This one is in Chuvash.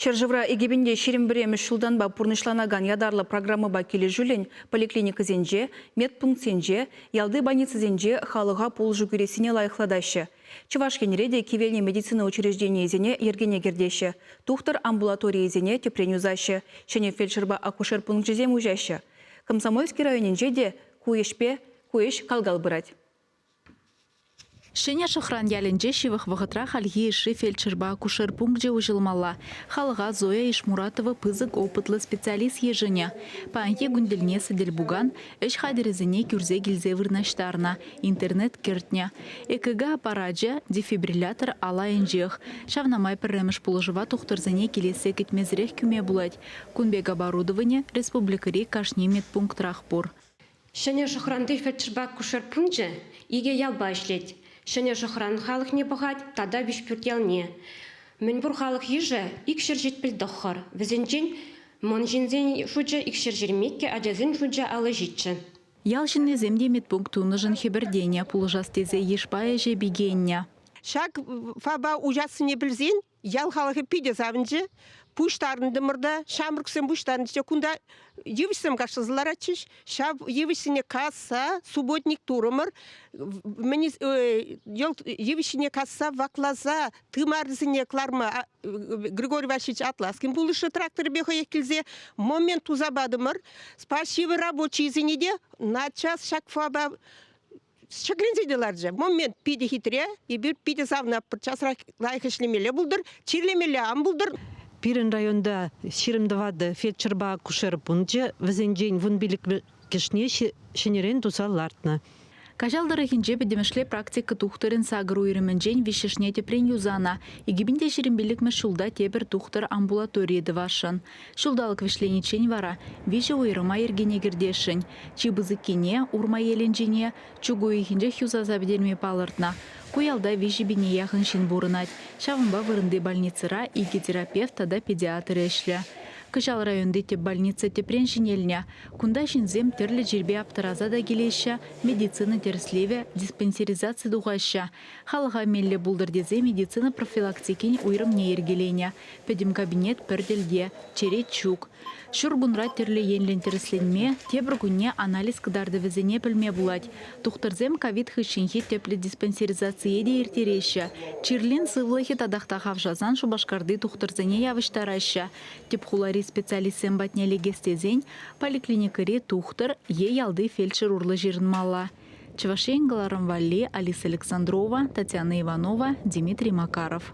Ҫӗршывра икӗ пин те ҫирӗм пӗрремӗш ҫултанпа пурнӑҫланакан ятарлӑ программӑпа килӗшӳллӗн поликлиникӑсенче, медпунктсенче, ялти больницӑсенче халӑха пулӑшу кӳрессине лайӑхлатаҫҫӗ. Чӑваш Енре те кивелнӗ медицина учрежденийӗсене йӗркене кӗртеҫҫӗ, тухтӑр амбулаторийӗсене тӗпрен юсаҫҫӗ, ҫӗнӗ фельдшерпа акушер пункчӗсем уҫаҫҫӗ. Комсомольски районӗнче те ку ӗҫпе ку ӗҫ кал-кал пырать. Ҫӗнӗ Шӑхран ялӗнче ҫывӑх вӑхӑтра хальхи йышши фельдшерпа акушер пункчӗ уҫӑлмалла. Халӑха Зоя Ишмуратова пысӑк опытлӑ специалист йышӑнӗ. Паянхи кун тӗлне сӗтел-пукан ӗҫ хатӗрӗсене кӳрсе килсе вырнаҫтарнӑ, интернет кӗртнӗ. ЭКГ аппарачӗ дефибриллятор алайӗнчех. Ҫавна май пӗрремӗш пулӑшӑва тухтӑрсене килессе кӗтмесӗрех кӳме пулать. Кун пек оборудовани республикӑри кашни медпунктрах пур. Ҫӗнӗ Шӑхранти фельдшерпа акушер пункчӗ икӗ ялпа ӗҫлет. Ҫӗнӗ Шӑхран халӑхне пӑхать тата Виҫпӳрт ялне. Мӗнпур халӑх йышӗ икҫӗр-ҫич пӗлтӑххӑр. Вӗсенчен мӑн ҫынсен шучӗ икҫӗр ҫирӗммиккӗ, ачасен шучӗ аллӑ ҫиччӗ. Ял ҫыннисем те медпункт тунӑшӑн хӗпӗртенӗ, пулӑшас тесе йышпа ӗҫе пикеннӗ. Ҫак ФАПа уҫассине пӗлсен ял халӑхӗ питӗ савӑнчӗ. Пуҫтарӑнтӑмӑр та, ҫамрӑксем пуҫтарӑнчӗ. Кунта йывӑҫсем кашласа ларатчӗҫ. Ҫав йывӑҫсене касса субботник турӑмӑр. Мӗн йывӑҫ ҫине касса вакласа тымарӗсене кӑларма Григорий Васильевич Атласкин пулӑшнӑ тракторӗпе хӑех килсе момент туса патӑмӑр. Спасибо рабочийсене те наччас ҫак фаба ҫӗкленсе те ларчӗ момент питӗ хитре эпир питӗ савна часрах лайӑх ӗҫлемелле пултӑр чирлемелле ан пултӑр пирӗн районта ҫирӗм тӑватӑ фельдшерпа акушер пункчӗ вӗсенчен вун пилӗкӗшне ҫӗнӗрен туса лартнӑ. Каҫал тӑрӑхӗнче пӗтӗмӗшле практика тухтӑрӗн сакӑр уйрӑмӗнчен виҫҫӗшне тӗпрен юсанӑ, икӗ пин те ҫирӗм пиллӗкмӗш ҫулта тепӗр тухтӑр амбулаторийӗ тӑвасшӑн. Ҫулталӑк вӗҫлениччен вара виҫӗ уйрӑма йӗркене кӗртесшӗн. Чи пысӑккине, Урмаелӗнчине, чӳк уйӑхӗнчех юсаса пӗтерме палӑртнӑ. Ку ялта виҫӗ пине яхӑн ҫын пурӑнать. Ҫавӑнпа вырӑнти больницӑра икӗ терапевт тата педиатр ӗҫлӗ. Кӑҫал районти тӗп больница тӗпрен ҫӗнелнӗ. Кунта ҫынсем тӗрлӗ чирпе аптӑраса та килеҫҫӗ, медицина тӗрӗслевӗ, диспансеризаци тухаҫҫӗ. Халӑха меллӗ пултӑр тесе медицина профилактикин уйрӑмне йӗркеленӗ. Пӗтӗм кабинет пӗр тӗлте, черет ҫук. Ҫуркунра тӗрлӗ енлӗн тӗрӗсленме, тепӗр кунне анализ кӑтартӑвӗсене пӗлме пулать. Тухтӑрсем ковид хыҫҫӑнхи тӗплӗ диспансеризацие те ирттереҫҫӗ. Чирлин сывлӑхӗ татах та хавшасан Шупашкарти тухтӑрсене явӑҫтараҫҫӗ. Тӗп хулари специалистсем патне лекес тесен поликлиникӑри тухтӑр е ялти фельдшер урлӑ ҫырӑнмалла. Чӑваш Ен кӑларӑм валли Алиса Александрова, Татьяна Иванова, Дмитрий Макаров.